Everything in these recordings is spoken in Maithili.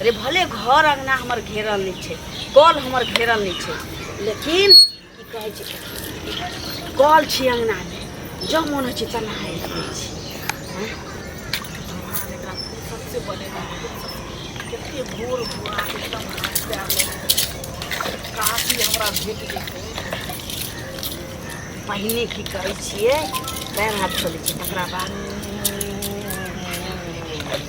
अरे भले घर अंगना हमर घेरल नहीं छे कल हमर घेरल नहीं छे लेकिन की कहे छे कल छी अंगना में जो मन हो छे तना है सबसे बने कितने भोर भोर आके एकदम हाथ पैर काफी हमरा भेट गई पहिने की करे छे पैर हाथ खोले छे तकरा बाद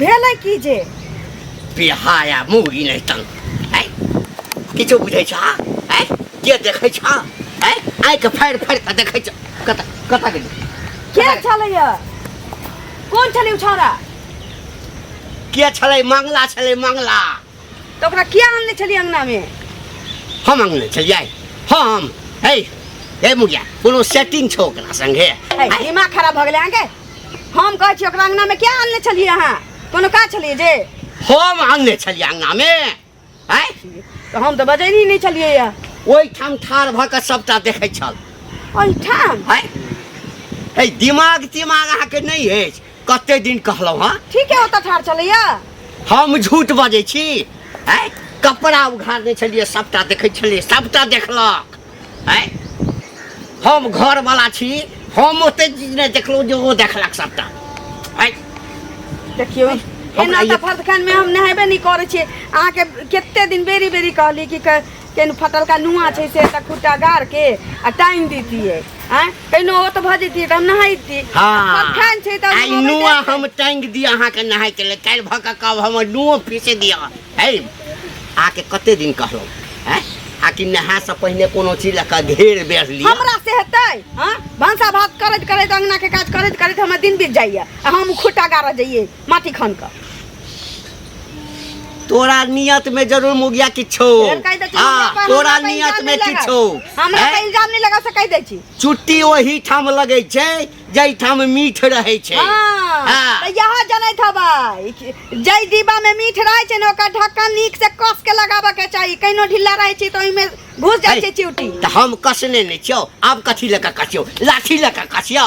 भेलै की जे बिहाया मुगी नै तन है किछो बुझै छ है के देखै छ है आइ के फाड़ फाड़ के देखै छ कत कत गेल के छलै य कोन छलै उ छौरा के छलै मंगला छलै मंगला तो ओकरा किया आनले छली अंगना में हम अंगने चल जाए हम हे हे मुखिया कोनो सेटिंग छो ओकरा संगे ऐ, दिमाग खराब भ गेले अहाँ के हम कहै छी ओकरा अंगना में किया आनले छली अहाँ कोनो का छली जे हम अंगने चल अंगना में आय तो हम तो बजैनी नहीं छलिए या ओहि ठाम ठार भऽ कऽ सबटा देखै छल ओहिठाम आय हे दिमाग तिमाग अहाँके नहि अछि कते दिन कहलहुँ हँ ठीक है ओतऽ ठार चलैया हम झूठ बजै छी आँय कपड़ा उघारने छलियै सभटा देखै छलियै सभटा देखलक आँय हम घरवला छी हम ओते चीज नहि देखलहुँ जे ओ देखलक सभटा आँय देखियौ हमरा एना ये- तऽ फर्दखान मे हम नहेबे नहि करै छियै अहाँके कते दिन बेरी बेरी कहली कि क- केहन फटलका नुआ छै से एकटा खुट्टा गाड़ के आ टाइम दीतियै आँय कहिनो ओ तऽ भऽ जैतियै तऽ हम नहैती हाँ खान छै तऽ आई नुआ हम टांग दिया अहाँ के नहाय के ले काल भ के कब हम नुओ पीसे दिया है आके कते दिन कहलो हैं आकि नहा से पहले कोनो चीज लऽ के घेर बेर लिया हमरा से हेतै हाँ भनसा भात करैत करैत अंगना के काज करैत करैत हमर दिन बीत जाइए आ हम खुट्टा गाड़ऽ जइयै माटी खन का तोरा नियत में जरूर मुगिया किछो फेर कहि दै छी, हमरा हाँ पर- तोरा हमरा पर नियत इल्जाम में नहि लगाउ। किछो हमरा हैं? पर इल्जाम नहीं लगा सकै दै छी चुट्टी ओही ठाम लगै छै जाहि ठाम मीठ रहै छै हाँ, हाँ। तऽ यहाँ जनैत हबै कि जै डिब्बा में मीठ रहै छै ने ओकर ढक्कन नीक से कस के लगाबऽ के चाही कहिनो ढिल्ला रहै छै तऽ ओहिमे घुस जाइ छै चिउटी तऽ हम कसने नहि छियौ आब कथी लऽ कऽ कसियौ लाठी लऽ कऽ कसियौ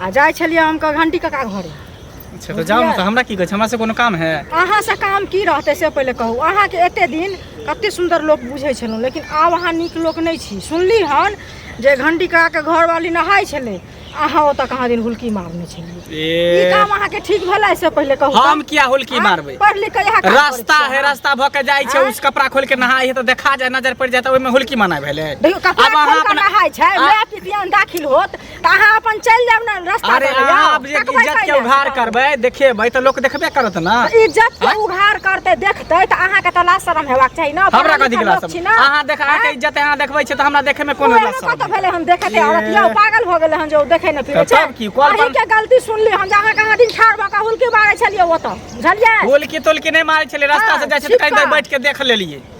आ जाइ छलियै हम कऽ घंटी कका घरे अच्छा तऽ जाउ ने तऽ हमरा की कहै छै हमरा से कोनो काम है अहाँ से काम की रहतै से पहिले कहू अहाँके एते दिन कते सुंदर लोक बुझै छलहुँ लेकिन आब अहाँ नीक लोक नहि छी सुनली हन जे घंटी कका के घरवाली नहाय छलै अहाँ ओतऽ कहाँ दिन हुलकी मारने छलियै ई ए काम अहाँके ठीक भेलै से पहिले कहू तऽ। हम किया होलकी आँय, मारबै पढ़ लिख के इएह काम करै रास्ता छियै है अहाँ। रास्ता भऽ के जाइ छै आँय? उस कपड़ा खोल के नहाय है तऽ देखा जाय नजर पड़ि जाय तऽ ओहिमे होलकी मना भेलै देखियौ कपड़ा आब अहाँ खोल कऽ अपना- नहाय छै आ- माय पितियान दाखिल होत तऽ अहाँ अपन चलि जायब ने रास्ता अरे पर अहाँ जाउ। आब जे तकबै इज्जत के कहिया? उघार करबै देखेबै तऽ लोक देखबे करत ने इज्जत के उघार करते देखते तऽ अहाँ के तऽ लाज शरम हेबाक चाही ने हमरा पढ़ल कथी लिखल गिला लोक छी सब ने। अहाँ देख अहाँके आँय? इज्जत अहाँ देखबै छै तऽ हमरा देखे मे कोनो ओहे लाज कतऽ भेलै हम देखे ते औरत यौ पागल भऽ गेलै हन जे ओ देखे नहि फिरे छै तब की, कॉल अहीं पर- के गलती सुनली हम जे अहाँ कहाँ दिन ठाढ़ भऽ कऽ हुलकी मारै छलियै ओतऽ बुझलियै बोलकी तोलकी नहि मारै छलै रास्ता से जाइ छै तऽ कहीं देर बैठ के देख लेलियै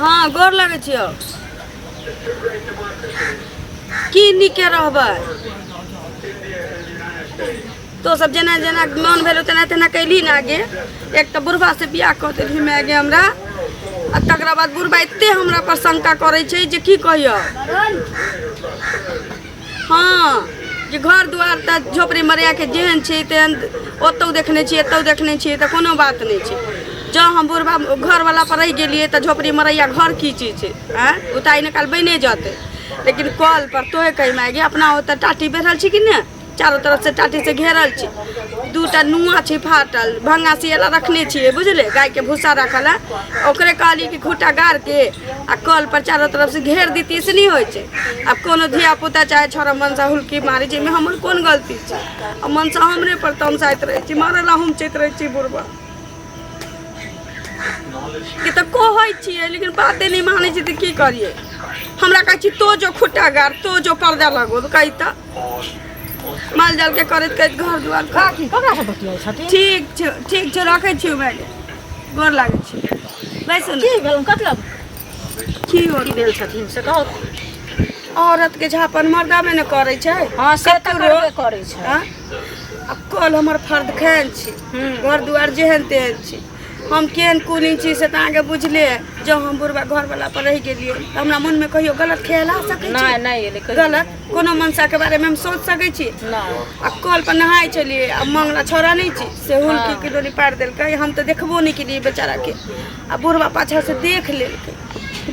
हँ गोर लगै छियौ की नीके रहबै तो सब जेना जेना मन भेलो तेना तेना कैली ना आगे एक तो बुढ़वा से बियाह कऽ देली मैं आगे हमरा आ तकरा बाद बुढ़वा एते हमरा पर शंका करै छै जे की कहियौ हँ जे घर दुआर तऽ झोपड़ी मरियाके जेहन छै तेहन ओतहु देखने छियै एतहु देखने छियै तऽ कोनो बात नहि छै जँ हम बुढ़बा घरवला पर रहि गेलियै तऽ झोपड़ी मरैया घर की चीज छै आँय ओ तऽ आइ ने काल्हि बने जेतै लेकिन कल पर तोहे कहि मागे अपना ओतऽ टाटी बैठल छी कि नहि चारू तरफ से टाटी से घेरल छी दू टा नुआ छै फाटल भंगा सियला रखने छियै बुझले गायके भूसा रखल है ओकरे कहलियै कि खूटा गाड़के आ कल पर चारो तरफ से घेर दी से नहीं होय छै अब कोनो धिया पुता चाहे छोरा मनसा हुलकी मारी जे में हमर कोन गलती छै आ मनसा हमरे पर तमसाइत रहे छी मारे ला हम चैत रहे छी बुढ़वा कि तऽ कहै छियै लेकिन बाते नहीं मानै छी तऽ की करिए हमरा कहै छी तो जो खुट्टा गाड़ तो जो पर्दा लगो तऽ कही तऽ माल जाल के करैत करैत घर दुआर ठीक छै ठीक छै रखै छी मैडम गोर लागै छी बैसू ने की भेल कथी लग की हो की भेल छथिन से कहू औरत के झापन मर्दामे ने करै छै हँ से तऽ कतहु करबे करै छै आँ? आ कल हमर फर्द खान छी हम्म। घर दुआर जेहन तेहन छी हम केहन कुलीन छी से तऽ अहाँके बुझले है। जँ हम बुढ़बा घरवला पर रहि गेलियै तऽ हमरा मोनमे कहियो गलत ख्याल आ सकै नहि छै नहि एलै कहियो गलत कोनो मनसाके बारेमे हम सोच सकै छी नहि आ कल पर नहाय छलियै आ मंगला छौड़ा नहि छी से हुलकी के डोरी पार देलकै हम तऽ देखबो नहि केलियै बेचारा के आ बुढ़वा पाछा से देख लेलकै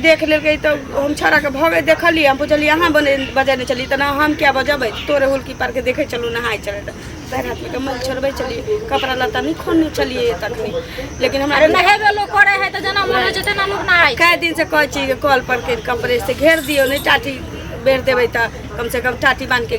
देख लेलकै तऽ हम छौड़ा के भगे देखलियै हम पुछलियै अहाँ बने बजेने चली तऽ ना हम क्या बजेबै तोरे हुलकी पार के देखे चलू नहाय चले तऽ पैर हाथ में कमल छोड़बै चलियै कपड़ा लत्ता नहि खोलने चलियै तखनी लेकिन हमरा अरे नहेबे लोग करे है तो जना मन जते ना लोग नहाय कए दिन से कहै छी कि कल पर के कपड़े से घेर दियौ नहि टाटी बेर देबै तऽ कम से कम टाटी बांध के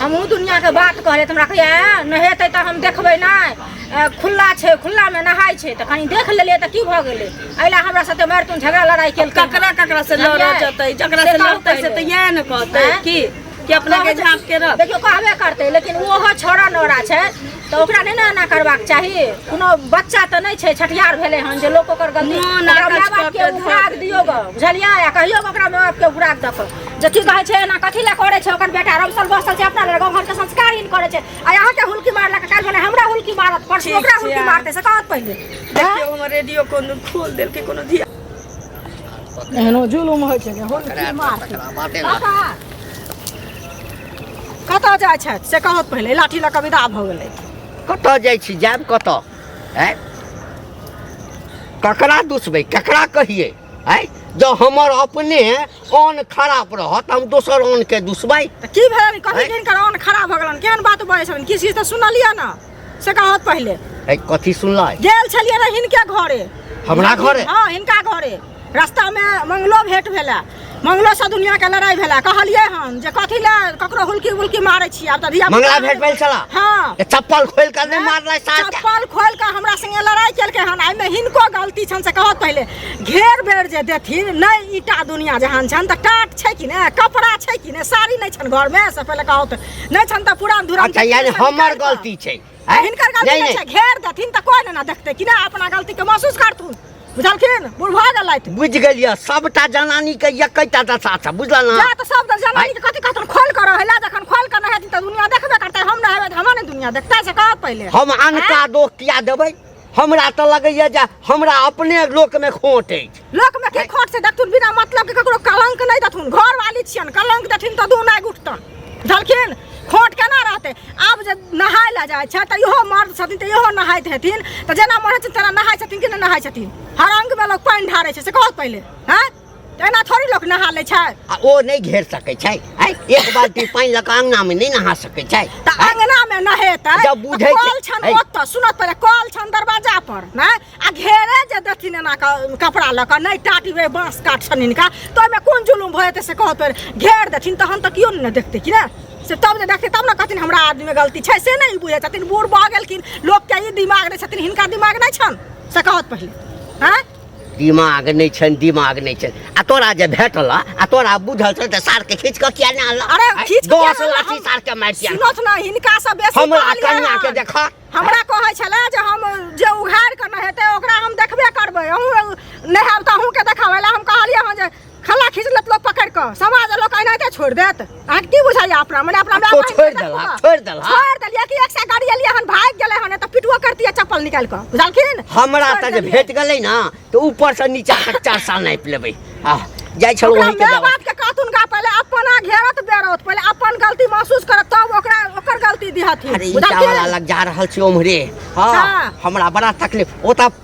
हमहूँ दुनिआँके बात कहै तऽ हमरा कहैए नहेतै तऽ हम देखबै नहि खुल्ला छै खुल्लामे नहाइ छै तऽ कनि देख लेलियै तऽ की भऽ गेलै एहि लए हमरा साथे मारि तुम झगड़ा लड़ाइ केल ककरा ककरा से लड़ऽ जेतै जकरा से लड़तै से तऽ इएह ने कहतै की कि अपना के झाँप के रख देखियो कहबे करते लेकिन ओहो छोड़ा नोरा छै तऽ ओकरा नहि ने एना करबाक चाही कोनो बच्चा तऽ नहि छै छठिहार भेलै हन जे लोक ओकर गलती मोन ओकरा आकाश माय बापके कऽ के उपराग धऽ दियौ गऽ बुझलियै आ कहियौ गऽ ओकरा माय बापके उपराग दऽ कऽ जे की कहै छै एना कथी लए करै छै ओकर बेटा रमसल बसल छै अपना लए गाँव घरके संस्कारहीन करै छै आ अहाँके हुलकी मारलक काल्हि भने हमरा हुलकी मारत परसू ठीक ओकरा छै, हुलकी आ- मारतै से कहत पहिले देखियौ हमर रेडियो कोनो खोल देलकै कोनो धिया एहनो जुलुम होइ छै जे हुलकी मारतै बाते पापा कतऽ जाइ छथि से कहत पहिले लाठी लऽ कऽ विदा भऽ गेलै कतऽ जाइ छी जायब कतऽ आँय ककरा दुसबै ककरा कहिए आँय जँ हमर अपने अन्न खराब रहत हम दोसर अन्नके दुसबै तऽ की भेल कथी आँय? जिनकर अन्न खराब भऽ गेलन केहन बात बजै छलन किछु किछु तऽ सुनलियै ने से कहत पहिले ए, कथी सुनलै गेल छलियै रह हिनके घरे हमरा घरे? हाँ हिनका घरे रास्ता में मंगलो भेंट भेला मंगलो से दुनिया के लड़ाई भेला कहलियै हम जे कथी ले ककरो हुलकी उलकी मारै छी आब तऽ धिया पुता- मंगला भेट भेल छला हाँ ए, चप्पल खोल कर नहीं मारलै साथ चप्पल खोल के हमरा संगे लड़ाई केलकै हन एहिमे हिनको गलती छनि से कहत पहिले घेर बेर जे देथिन नहि ईटा दुनिया जहान छनि तऽ टाट छै कि ने कपड़ा छै कि ने साड़ी नहि छनि घरमे से पहिले कहत नहि छन त पुरान धुरान अच्छा यानी हमर गलती छै हिनकर गलती नहि छै घेर देथिन त कोइ ना देखते कि ना अपना गलती के महसूस करथुन बुझलखिन बुढ़ भऽ गेलैथ बुझ गेलियै सबटा जनानी के एकैटा दशा छै बुझल ना जा त सब त जनानी के कथि कहतन खोल कर रहला जखन खोल कर रहै त दुनिया देखबे करतै हम रहबै त हमरा नै दुनिया देखतै से कह पहिले हम अनका दोख किया देबै हमरा तऽ लगैया जे हमरा अपने लोकमे खोट अछि लोकमे के खोट से देखथुन बिना मतलब के ककरो कलंक नहि देथुन घर वाली छियन कलंक देथिन तऽ दू नहि उठतन बुझलखिन खोट केना रहतै आब जे नहाय लए जाइ छै तऽ इहो मर्द छथिन तऽ इहो नहाइत हेथिन तऽ जेना मरे छथिन तेना नहाय छथिन कि नहि नहाय छथिन हर अंगमे लोक पानि ढारै छै से कहत पहिले हँ एना थोड़ी लोक नहा लै छै आ ओ नहि घेर सकै छै आय एक बाल्टी पानि लऽ कऽ अङ्गनामे नहि नहा सकै छै तऽ अङ्गनामे नहेतै जब तऽ बुझै छै- कल छन है। ओतऽ सुनत पहिले कल छन दरवाजा पर ने आ घेरे जे देथिन एना कऽ कपड़ा लऽ कऽ नहि टाटबै बाँस काट छन हिनका तऽ ओहिमे कोन जुलुम भऽ जेतै से कहत पहिले घेर देथिन तहन तऽ केओ नहि ने देखतै कि ने से तब जे देखतै तब ने कहथिन हमरा आदमीमे गलती छै से नहि बुझै छथिन बूढ़ भऽ गेलखिन लोकके ई दिमाग नहि छथिन हिनका दिमाग नहि छनि से कहत पहिले आँय दिमाग नहि छनि दिमाग नहि छनि आ तोरा जे भेटल आ तोरा बुझल छौ तऽ सार के खींच कऽ किया नहि आनल अरे खींच कऽ दस लाठी सार के मारि दिया सुनत ना हिनका से बेसी हमरा कन्या के देख हमरा कहै छले जे हम जे उघार के न हेतै ओकरा हम देखबे करबै अहूँ नहायब तऽ अहूँ के देखाबै लए हम कहलियै हँ जे खला खींच लेत लोग पकड़ के समाज लोग कहना के छोड़ देत अहाँ की बुझाइए अपना मने अपना तो छोड़ देला छोड़ देला छोड़ देलिए कि एक से गाड़ी एलिए हन भाग गेले हन त पिटुआ करती है चप्पल निकाल के बुझलखिन हमरा त जे भेट गेलै ना तो ऊपर से नीचा तक चार साल नाप लेबै आ जाइ छौ वही के दवा बात के कातुन का पहले अपना घेरत बेरत पहले अपन गलती महसूस करत तब ओकरा ओकर गलती दिहथि अरे ई चावल लग जा रहल छी ओमरे हां हमरा बड़ा तकलीफ ओता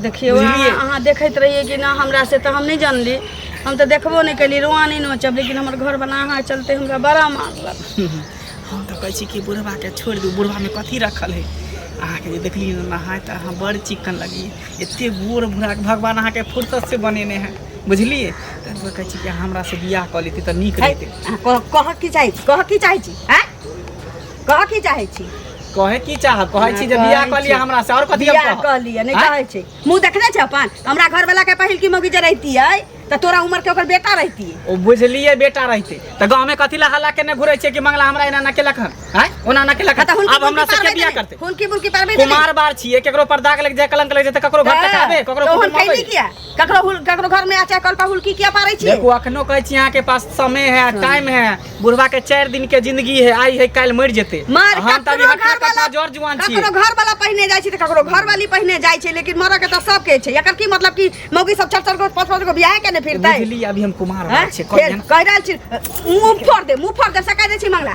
देखियौ बुझलियै? अहाँ अहाँ देखैत रहियै कि ना हमरा से तऽ हम नहि जानली हम तऽ देखबो नहि केली रोआ नहि नोचब लेकिन हमर घर बना अहाँ चलते हमरा बड़ा मारलक हम तऽ कहै छी कि बुढ़बाके छोड़ि दू बुढ़बामे कथी रखल है अहाँके जे देखली ने नहाय तऽ अहाँ बड़ चिक्कन लगी एते गोर बुढ़ाके भगवान अहाँके फुर्सत से बनेने हैं बुझलियै तैं दुआरे कहै छी कि हमरा से बियाह कऽ लेती तऽ नीक है, रहितै अहाँ कह कह की चाहै छी कह की चाहै छी हैं कह की चाहै छी कहे की चाह कहे छी जे बियाह क लिया हमरा से और कथि हम बियाह कहब? कऽ लिअ नहि आँय? कहै छै मुँह देखने छै अपन हमरा घरवला के पहिल की मौगी जे रहितियै तऽ तोरा उम्र के ओकर बेटा रहितियै ओ बुझलिए बेटा रहते त गांव में कथि ला हल्ला केने घुरे छे कि मंगला हमरा एना ना केलक हन हैं ओना ना केलक हन। तऽ हुनकी अब हमरा मुर्गी से के पालबै बियाह तऽ करते नहि। हुनकी मुर्गी पालबै तऽ कुमार बार छिए केकरो पर दाग लग जाए कलंक लग जाए त ककरो घर तक आबे ककरो तोहन कुटुम आबे कैली किया ककरो हुल ककरो घर में आचे कल पर हुलकी किया पारे छी देखो अखनो कहै छी अहाँ के पास समय है टाइम है बुढ़वा के 4 दिन के जिंदगी है आई है काल मर जेते मार हम तभी ककरो हटा घर कटा वाला जोर जुआन छी ककरो घर वाला पहिने जाइ छै त ककरो घर वाली पहिने जाइ छै लेकिन मरऽ के त सब के छै एकर की मतलब कि मौगी सब चार चार गो पांच पांच गो बियाह के ने फिरतै बुझली अभी हम कुमार हैं? बात छै फेर कहियन कहि रहल छी मुंह फोड़ दे मुंह फोड़ दे सका दे छी मंगला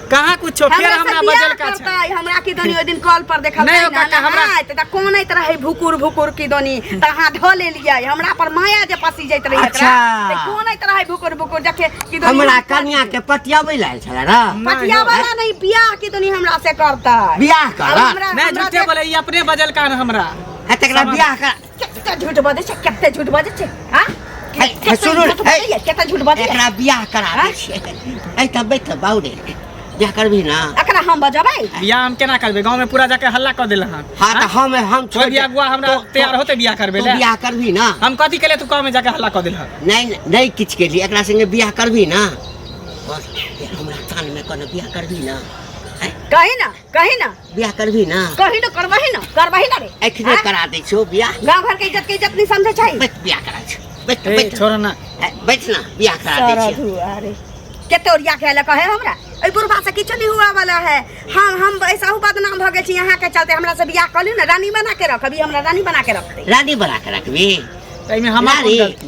कहाँ कुछो फेर हमरा हमरा से बजल बियाह का छै करतै हमरा की दनी ओइ दिन कॉल पर देखल नहि, ओकरा तऽ हमरा- हमरा तऽ कोन इत रहै भुकुर भुकुर की दनी तऽ अहाँ धऽ लेलियै हमरा पर माया जे पसी जाइत रहै अच्छा। एकरा, तऽ कोन इत रहै भुकुर भुकुर जके की दनी हमरा कन्या के पतियाबै लायल छल र पतिया वाला नहीं बियाह की दनी हमरा से करतै बियाह आब कर हमरा- नहि हमरा झूठे से- बोले ई अपने बजल कान हमरा है तकरा बियाह कर केते झूठ बाजै छै केते झूठ बाजै छै हां है सुनू केते झूठ बाजै एकरा बियाह करा दै छियै ऐ त बैठ बाउरे बियाह करबी ना एकरा हम बजबै बियाह हम केना करबै गांव में पूरा जाके हल्ला क देला हां हां त हम हम छोड़ बियाह गुआ हमरा तैयार होते बियाह करबै ले बियाह करबी ना हम कथि केले तू गांव में जाके हल्ला क देला नहीं नहीं किछ के लिए एकरा संगे बियाह करबी ना बस हमरा कान में कोनो बियाह करबी ना कही ना कही ना बियाह करबी ना कही ना करबही ना करबही ना रे एखने हाँ? करा दै छौ बियाह गांव घर के इज्जत के इज्जत नहीं समझे चाहिए बैठ बियाह करा छौ बैठ ए, बैठ छोड़ ना ए, बैठ ना बियाह करा दै सारा छियौ धुआ रे केते ओरिया के लक है हमरा ए बुढ़वा से किछु नहीं हुआ वाला है हम हम ऐसा हूँ बदनाम भ गेल छी यहाँ के चलते हमरा से बियाह कर लियौ ना रानी बना के रख अभी हमरा रानी बना के रख दे रानी बना के रखबी एहिमे हमार कोन रानी गलती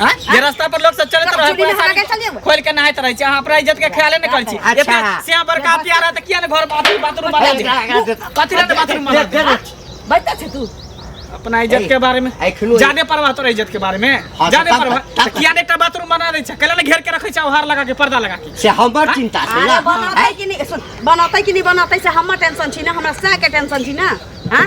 हाँ? ये रास्ता पर लोग सब चलत रहे चोरी पूरा में हरा के चल जेबो। साड़ी खोल के नहाइत रहे छी अहाँ अपना इज्जत के ख्याले न करै छी अच्छा। एते से बड़का प्यारा त किया न घर बाथरूम बाथरूम बना दे कथि ले बाथरूम बना दे बच्चा छै तू अपना इज्जत के बारे में एखनो जाने परवाह तोरा इज्जत के बारे में हाँ, जाने तब- परवाह तब- त किया ने एकटा बाथरूम बना दै छै कैला ने घेर के रखै छै हार लगा के पर्दा लगा के से हमर चिंता छै अरे ना बनौतै कि नहीं सुन बनौतै कि नहीं बनौतै से हमर टेंशन छी ना हमरा सह के टेंशन छी ना हाँ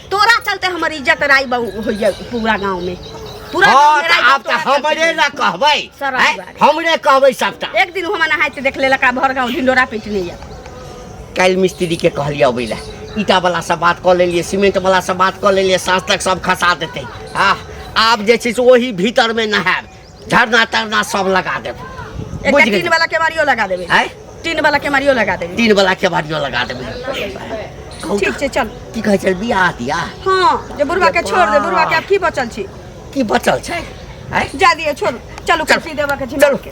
तोरा चलते हमर इज्जत राई बहु होइया पूरा गांव में पूरा गांव हाँ में त राई आब त तोरा चलते। हमरे न कहबै सर, हैं? बारे। हमरे कहबै सबटा एक दिन हम नहाइत देख ले लका भर गांव ढिंडोरा पीटने या काल्हि मिस्त्री के कहलियै अबै लए ईटा वाला से बात कऽ लेलियै सीमेंट वाला से बात कऽ लेलियै साँझ तक सब खसा देतै आ आब जे छै से ओही भीतर मे नहायब धरना तरना सब लगा देब एकटा बुझि गेलियै। टीन वाला केवाड़ियो लगा देबे आँय? टीन वाला केवाड़ियो लगा देबे तीन बला के बाड़ियो लगा देब कहू ठीक तऽ, छै चल की कहै छै बियाह दिया हाँ जे बुढ़वा के छोड़ दे बुढ़वा के आब की बचल छी की बचल छै आँय? जा दिए छोड़ चलू चल। कुर्सी देबा के चलू। झिमक के